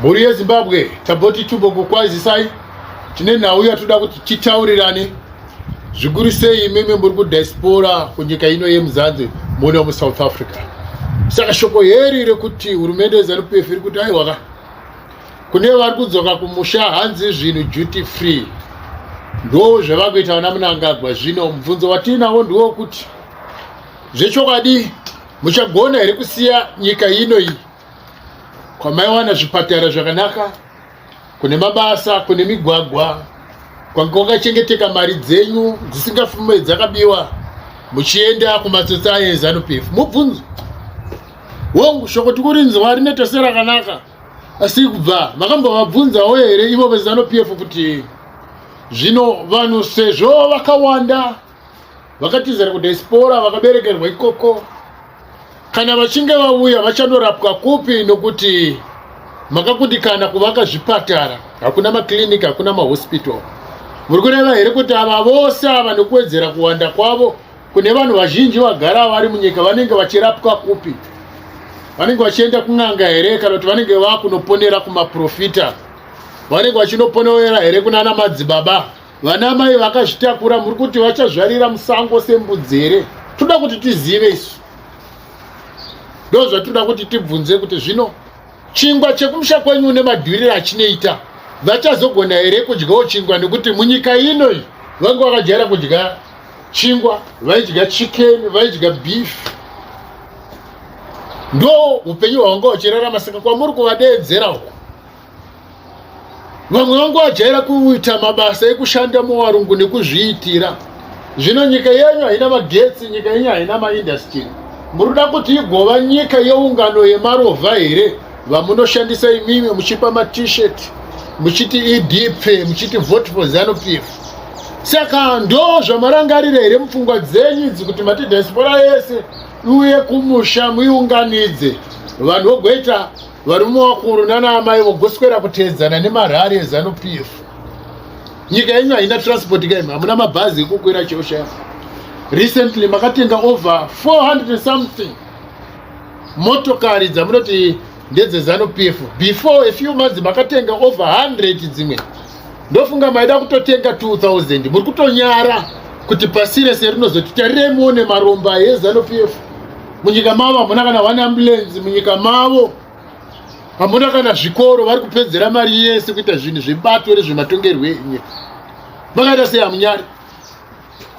Mhuri yeZimbabwe taboti tubo kukwazisai tine nhau yatoda kuti titaurirane zvikuru sei imimi muri kudiaspora kunyika ino yemuzanzi muno musouth africa saka shoko heri rekuti hurumende yezanup iri kuti aiwaka kune vari kudzoka kumusha hanzi zvinhu duty free ndo zvevakuita vana munangagwa zvino mubvunzo watiinawo ndiwo kuti zvechokwadi muchagona here kusiya nyika ino iyi kwamaiwana zvipatara zvakanaka kune mabasa kune migwagwa kwanga kwakachengeteka mari dzenyu dzisingafume dzakabiwa muchienda kumatsotsi aye ezanup f mubvunzo hongu shoko tikurinzwa rinoita serakanaka asi kubva makambovabvunzawo here ivo vezanup f kuti zvino vanhu sezvo vakawanda vakatizira kudiaspora vakaberekerwa ikoko kana vachinge vauya vachanorapwa kupi nokuti makakundikana kuvaka zvipatara hakuna makliniki hakuna mahospital muri kureva here kuti ava vose ava nokuwedzera kuwanda kwavo kune vanhu vazhinji vagara vari munyika vanenge vachirapwa kupi vanenge vachienda kun'anga here kana kuti vanenge vakunoponera kumaprofita vanenge vachinoponera here kunana madzibaba Vana mai vakazvitakura muri kuti vachazvarira musango sembudzi here? Toda kuti tizive isu. Ndo zvatoda kuti tibvunze kuti zvino chingwa chekumusha kwenyu une madhurire achinoita vachazogona here kudyawo chingwa nekuti munyika ino iyi vanga vakajaira kudya chingwa vaidya chicken vaidya beef ndo upenyu hwavanga vachirarama saka kwamuri kuvadeedzera uku vamwe vangu vajaira kuita mabasa ekushanda muvarungu nekuzviitira zvino nyika yenyu haina magetsi nyika yenyu haina maindastiri muri kuda kuti igova nyika yeungano yemarovha here vamunoshandisa imimi muchipa matshirt muchiti edp muchiti vote for zanupf saka ndo zvamarangarira here mupfungwa dzenyu idzi kuti mati diaspora yese iuye kumusha muiunganidze vanhu vogoita Varume vakuru nana amai vogoswera kuteedzana nemarhari ezanu pf nyika yenyu haina transport kaim hamuna mabhazi ekukwira cheoshaya recently makatenga over 400 something motokari dzamunoti ndedzezanu pf before a few months makatenga over 100 dzimwe ndofunga maida kutotenga 2000 muri kutonyara kuti pasi rese rinozoti tarirei muone maromba ezanupf munyika mavo hamuna kana one ambulance munyika mavo hamuna kana zvikoro vari kupedzera mari yese kuita zvinhu zvebato rezvematongerwo enyika makaita sei hamunyari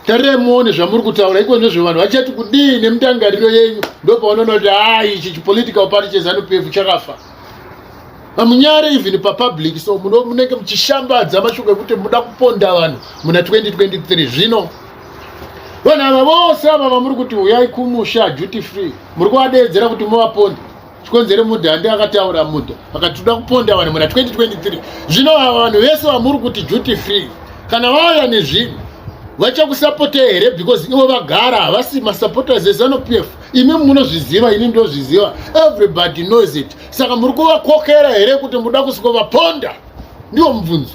tarirai muone zvamuri kutaura iko nezve vanhu vachati kudii nemutangariro yenyu ndopaunoona kuti haa ichi chipolitical party chezanupf chakafa hamunyare even papublic so munenge muchishambadza mashoko ekuti muda kuponda vanhu muna 2023 zvino vanhu ava vose ava vamuri kuti uyai kumusha duty free muri kuvadeedzera kuti muvaponde chikonzere mudha andi akataura mudha akatida kuponda vanhu muna 2023 zvino ava vanhu vese vamuri kuti duty free kana vauya nezvinhu vachakusapota here because ivo vagara havasi masupporters ezanup f imi munozviziva ini ndozviziva everybody knows it saka muri kuvakokera here kuti muda kusviko vaponda ndiwo mubvunzo